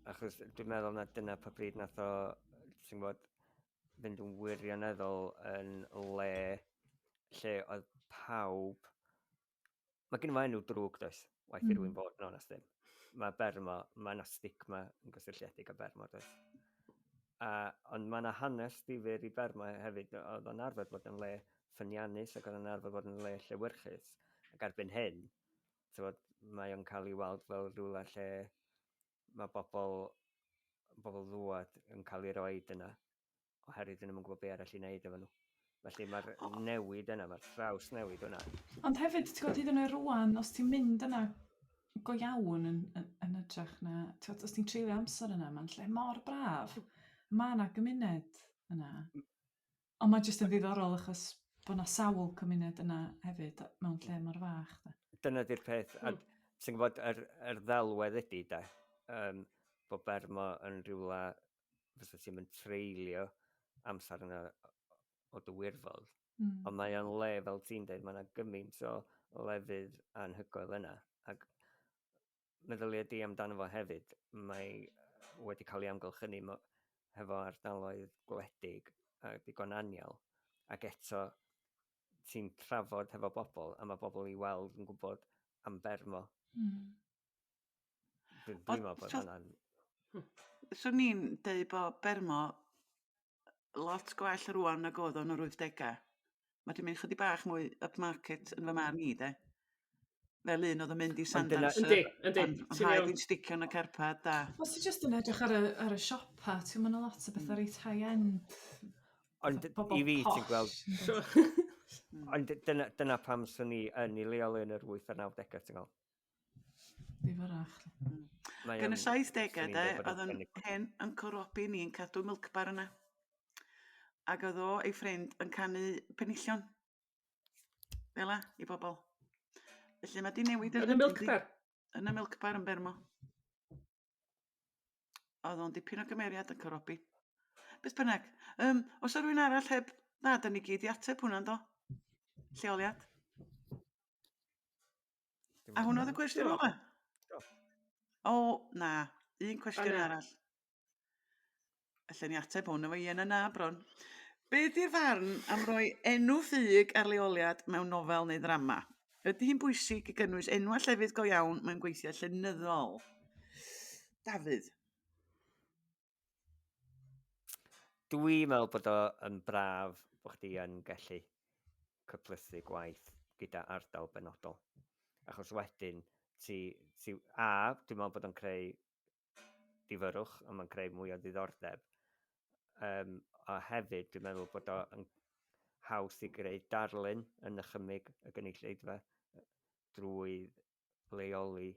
Speaker 2: Achos dwi'n meddwl na dyna pa bryd nath o, ti'n bod, fynd yn wirioneddol yn le lle oedd pawb Mae gen i fy enw drwg, does? Waith mm. i rwy'n bod yn onest ddim. Mae ber yma, mae yna stigma yn gysylltiedig â ber yma, does? A, ond mae yna hanes ddifur i ber yma hefyd, oedd o'n arfer bod yn le ffyniannus ac oedd o'n arfer bod yn le llewyrchus. Ac erbyn hyn, tywod, mae o'n cael ei weld fel rhywle lle mae bobl, bobl ddwad yn cael ei roi yna. oherwydd dyn nhw'm yn gwybod be' arall i wneud efo nhw. Felly mae'r newid yna, mae'r traws newid yna. Ond hefyd, ti'n gwybod,
Speaker 3: hyd yn oed rwan, os ti'n mynd yna go iawn yn, yn, yn ytrach na, ti'n gwybod, os ti'n treulio amser yna, mae'n lle mor braf. Mae yna gymuned yna. Ond mae jyst yn ddiddorol achos bod yna sawl cymuned yna hefyd mewn lle mor fach. Da. Dyna di'r peth.
Speaker 2: A hmm. ti'n gwybod, yr, yr ddelwedd ydy, da, um, bod Bermo yn rhywle fysa ti'm yn treulio amser yna o dy wirfodd. Mm. Ond mae o'n le, fel ti'n dweud, mae yna gymaint o lefydd anhygoel yna. Ac meddylia di amdano fo hefyd, mae wedi cael ei amgylchynu hefo ardaloedd gwledig a digon anial. Ac eto, ti'n trafod hefo bobl, a mae bobl i weld yn gwybod am bermo. Mm. Dwi'n dwi meddwl bod hwnna'n...
Speaker 1: Swn i'n dweud bod Bermo lot gwell rwan nag oedd o'n yr 80au. Mae wedi mynd chydig bach mwy upmarket yn fy marn i de. Fel un oedd yn mynd i Sandals. Yndi, yndi. Ond rhaid i'n sticio yn y carpad da. Os ti jyst yn edrych ar
Speaker 3: y, ar y siopa, ti'n mynd lot o bethau hmm. reit high-end. Ond
Speaker 2: i fi, ti'n gweld... Hmm. Ond dyna, dyna pam swn i yn ei leol yn yr 8 a'r 90au, ti'n gweld? Ddifarach.
Speaker 3: Mae
Speaker 1: Yn y 70au de, oedd yn hen Uncle Robbie ni yn cadw milk bar yna. Ac oedd o ei ffrind yn canu penillion. Fel la, i bobl. Felly mae di newid Yn y milk bar?
Speaker 4: Yn y milk bar
Speaker 1: yn Bermo. Oedd o'n dipyn o gymeriad yn Corobi. Beth bynnag, um, os o rwy'n arall heb... Na, da ni gyd i ateb hwnna, do? Lleoliad. A hwnna oedd y cwestiwn ola? O, na. Un cwestiwn arall. Alla ni ateb hwn efo ien a na, bron. Be di'r farn am roi enw ffug ar leoliad mewn nofel neu ddrama? Ydy hi'n bwysig i gynnwys enw a llefydd go iawn mewn gweithiau llenyddol? Dafydd.
Speaker 2: Dwi'n meddwl bod o yn braf bod chdi yn gallu cyplysu gwaith gyda ardal benodol. Achos wedyn, ti, ti, a, dwi'n meddwl bod o'n creu difyrwch, a mae'n creu mwy o ddiddordeb. Um, a hefyd, dwi'n meddwl bod o'n haws i greu darlun yn nychymig y gynulleidfa drwy leoli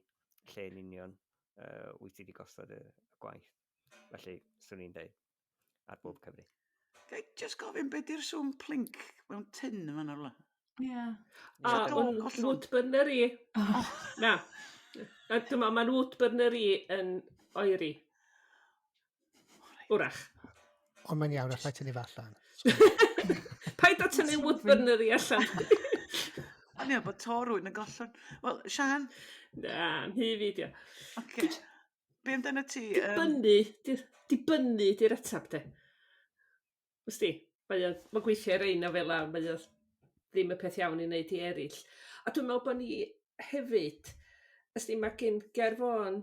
Speaker 2: lle yn union uh, wyt ti wedi gosod y, y gwaith. Felly, swn i'n dweud, ar bob cyfri. Gai just
Speaker 1: gofyn beth yw'r swm plinc mewn tyn yma nawr la? Ie. Yeah. A, yeah,
Speaker 3: o'n wood burner
Speaker 4: i. Oh. Na. Dyma, mae'n wood burner i yn oeri. Wrach. Ond mae'n
Speaker 5: iawn, allai tynnu fa allan.
Speaker 4: Paid o tynnu woodburner i allan.
Speaker 1: O'n i'n bod to rwy'n yn gollwng. Wel, Sian? Na, mi
Speaker 4: fi di. Oce.
Speaker 1: Be amdano ti? Dibynnu,
Speaker 4: dibynnu di'r atab de. Ys di? Mae o, mae gweithiau ar ein o fel ar, mae o ddim y peth iawn i wneud i eraill. A dwi'n meddwl bod ni hefyd, ys di, mae gen gerfon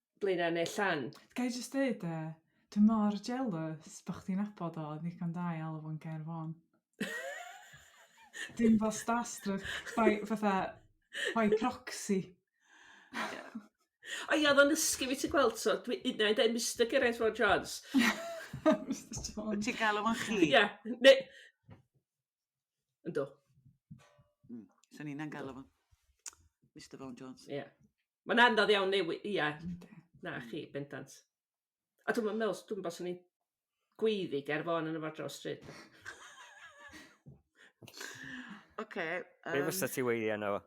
Speaker 4: Blaenau neu Llan. Ga i jyst dweud de,
Speaker 3: dwi mor jealous bod chdi'n abod o ddigon da i alw fo'n Gair Fôn. Dim fel starstruck, by, fatha, by proxy.
Speaker 4: O ia, oedd o'n ysgu fi ti gweld, so dwi un o'i dweud Mr Geraint Fôn Jones.
Speaker 3: Mr Jones. Ti'n galw fo'n chi? Ia,
Speaker 1: neu,
Speaker 4: Ynddo. Mm.
Speaker 1: Sa'n ni'n angael fo. Mr Vaughan Jones. Ie. Yeah. Mae'n
Speaker 4: anodd iawn newid, ia. Na chi, bendant. A dwi'n meddwl, dwi'n meddwl sy'n ni'n gweiddi ger fo yn y fod dros stryd.
Speaker 1: Oce. Be fysa
Speaker 2: ti weiddi yna fo?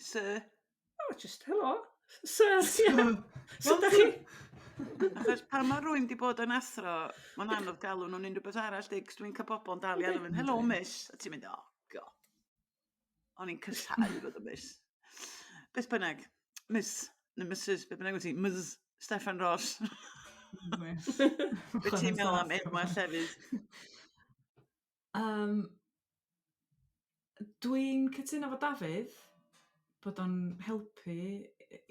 Speaker 1: Sir, O just
Speaker 4: helo. So, yeah. So, da chi... Achos
Speaker 1: pan mae rwy'n wedi bod yn athro, mae'n anodd galw nhw'n unrhyw beth arall, dig, dwi'n cael bobl yn dal i alw fy'n, helo miss, a ti'n mynd, o, oh, go. O'n i'n cysau fod y miss. Beth bynnag, miss, neu missus, beth bynnag wyt ti, miss Stefan Ross. Beth ti'n meddwl am enwau llefydd? Yym
Speaker 3: dwi'n cytuno efo Dafydd bod o'n helpu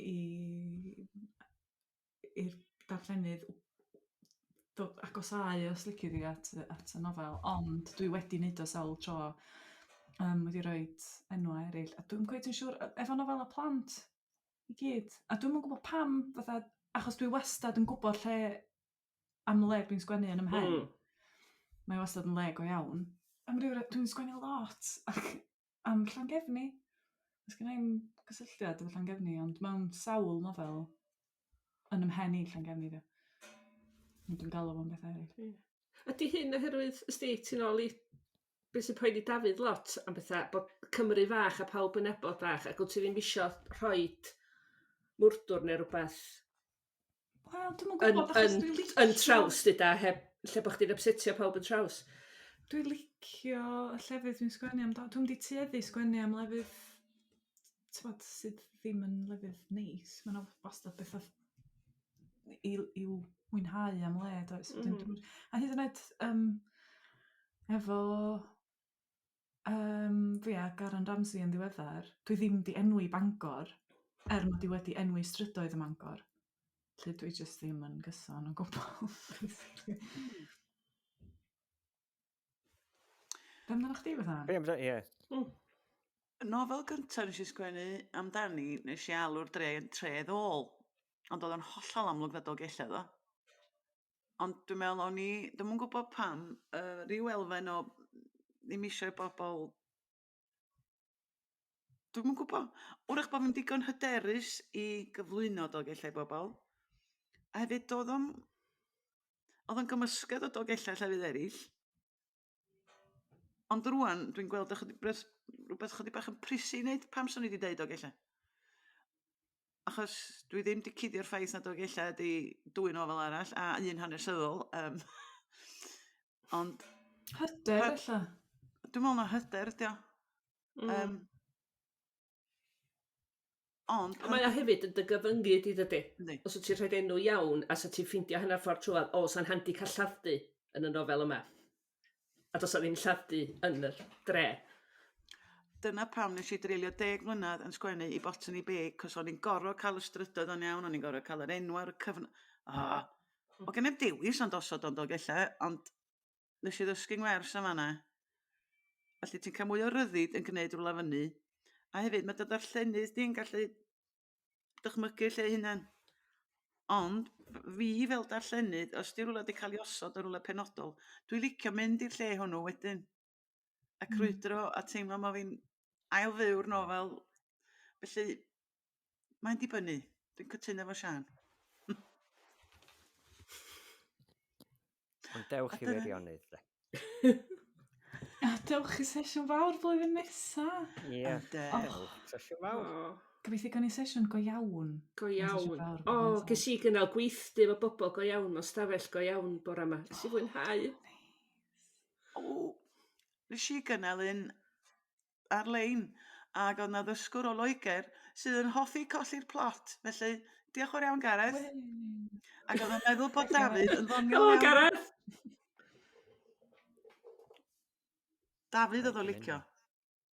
Speaker 3: i i'r darllenydd dod... agosáu os lici di at y at y nofel ond dwi wedi wneud o sawl tro yym wedi rhoid enwau eraill a dwi'm cweit yn siŵr yy efo nofelau plant i gyd a dwi'm yn gwybod pam fatha achos dwi wastad yn gwybod lle am y le dwi'n sgwennu yn 'y mhen. Hmm. Mae wastad yn le go iawn. Am ryw re- dwi'n sgwennu lot ac am Llangefni. Does gen i'm gysylltiad efo Llangefni ond mewn sawl nofel yn 'y mhen i Llangefni 'di o. Ond dwi'n galw fo'n bethau eryll. Ie. Ydy hyn
Speaker 4: oherwydd ysdi ti'n ôl i be' sy'n poeni Dafydd lot am betha bod Cymru fach a pawb yn nabod bach ac wt ti ddim isio rhoid mwrdwr ne' rwbath
Speaker 3: Wel dwi'm yn gwybod achos dwi licio... Yn yn traws 'lly 'da
Speaker 4: heb lle bo' chdi'n ypsetio pawb yn traws. Dwi
Speaker 3: licio y llefydd dwi'n sgwennu amdan dwi'm 'di tueddu sgwennu am lefydd t'mod sydd ddim yn lefydd neis ma' 'na wastad betha i l- i'w mwynhau am le does? Wedyn dw'm... A hyd yn oed yym efo Yym fi a Garron Ramsey yn ddiweddar. Dwi ddim 'di enwi Bangor er mod i wedi enwi strydoedd ym Mangor. Felly dwi jyst ddim yn gyson o gwbwl. Be' amdanach chdi Bethan? Be' amda- ie. Hmm.
Speaker 1: Y nofel gynta' nes i sgwennu amdani nes i alw'r dre yn tredd ôl. Ond o'dd o'n hollol amlwg nad Dolgellau o'dd o. Ond dwi me'wl o'n i ddim yn gwbod pam yy ryw elfen o ddim isio i bobol dwi'm yn gwbo. 'W'rach bo' fi'n digon hyderus i gyflwyno Dolgellau i bobol a hefyd do'dd o'm odd o'n gymysgedd o Dolgellau llefydd eryll. Ond rwan, dwi'n gweld ychydig beth, rhywbeth chydig bach yn prisi i wneud, pam swn i wedi deud o gella? Achos dwi ddim wedi cuddio'r ffaith nad o gella ydi dwy nofel arall, a un hanesyddol. Um, ond... Hyder, ella?
Speaker 3: Dwi'n meddwl na
Speaker 1: hyder ydi o. Mm. Um, Ond pan... Mae o hefyd yn dy
Speaker 4: gyfyngu di dydi? Yndi. Os wt ti'n rhoid enw iawn a sa ti'n ffeindio hanner ffordd trwodd o sa'n handi cael lladd-dy yn y nofel yma. A does 'na ddim lladd-dy yn yr dre.
Speaker 1: Dyna pam nes i dreulio deg mlynedd yn sgwennu i Botany Bay cos o'n i'n gorfod cael y strydoedd o'n iawn, o'n i'n gorfod cael yr enw ar y cyfn... O! O gennyf dewis ond osod o'n Dolgellau ond Nes i ddysgu ngwers yn fanna. Felly ti'n cael mwy o ryddid yn gwneud rwla fyny. A hefyd mae dy ddarllenydd di'n gallu dychmygu lle hunan. Ond fi fel darllenydd, os di rwla wedi cael ei osod o rwla penodol, dwi'n licio mynd i'r lle hwnnw wedyn. a hmm. crwydro a teimlo ma' fi'n ail fyw'r nofel felly mae'n dibynnu dwi'n cytuno efo Siân.
Speaker 2: Ond dewch i wirionnydd de.
Speaker 3: A dewch i sesiwn fawr flwyddyn nesa. Ie. Yeah.
Speaker 2: Sesiwn fawr. Oh. Gobeithio gawn ni
Speaker 3: sesiwn go iawn. Go iawn.
Speaker 4: O, oh, ges i gynnal gweithdy efo bobl go iawn, o stafell go iawn bore yma. Nes i fwynhau. Oh, O!
Speaker 1: Nes i gynnal un ar-lein ag o'dd 'na ddysgwr o Loegr sydd yn hoffi colli'r plot felly diolch yn fawr iawn Gareth. Ww. Ac odd o'n meddwl bod Dafydd yn ddoniol iawn. Helo Gareth! Dafydd odd o'n licio.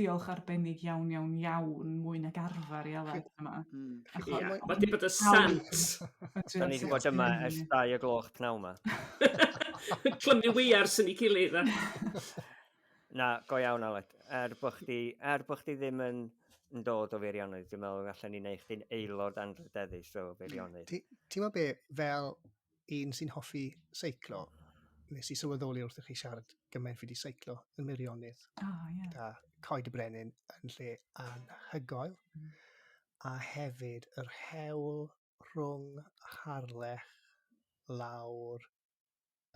Speaker 3: Diolch arbennig iawn iawn iawn, mwy nag arfer i Aled yma. Mm. Achos... Ia,
Speaker 1: mae wedi bod y
Speaker 4: sant! Da ni wedi
Speaker 2: bod yma ers dau o gloch pnawn yma.
Speaker 4: Clymu weiar sy'n ei gilydd.
Speaker 2: Na, go iawn Aled. Er bod chdi, er bod chdi ddim yn, yn dod o feirionydd, dwi'n meddwl allan ni'n ei chdi'n aelod anrhydeddus o feirionydd. Ti'n meddwl be,
Speaker 5: fel un sy'n hoffi seiclo, nes i sylweddoli wrth i chi siarad gymaint fi wedi seiclo yn Meirionydd. Oh, yeah. Da Coed y Brenin yn lle anhygoel. Mm. A hefyd yr hewl rhwng Harlech lawr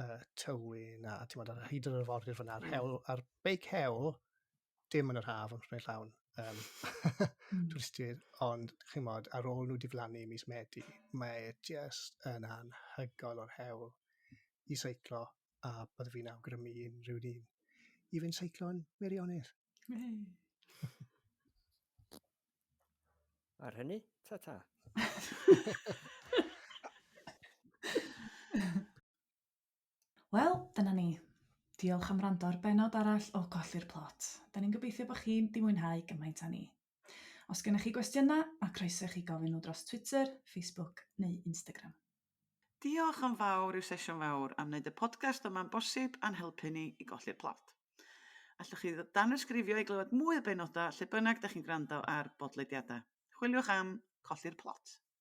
Speaker 5: y tywyn a ti'n bod ar hyd yr arfordir fyna, mm. hewl, a'r beic hewl dim yn yr haf ond prynu llawn, um, mm. twristiaid, ond chi'n modd, ar ôl nhw diflannu mis Medi, mae just yn anhygoel o'r hewl i seiclo a byddwn fi'n awgrymu unrhyw un i fynd seiclo'n wirionedd.
Speaker 2: Ar hynny, ta-ta.
Speaker 3: Wel, dyna ni. Diolch am wrando ar benod arall o Colli'r Plot. Da ni'n gobeithio bod chi'n di mwynhau gymaint â ni. Os gennych chi gwestiynau, mae croeso i chi gofyn nhw dros Twitter, Facebook neu Instagram. Diolch
Speaker 1: yn fawr i'w sesiwn fawr am wneud y podcast yma'n bosib a'n helpu ni i golli'r plot. Allwch chi danysgrifio i glywed mwy o benodau lle bynnag da chi'n gwrando ar bodlediadau. Chwiliwch am Colli'r Plot.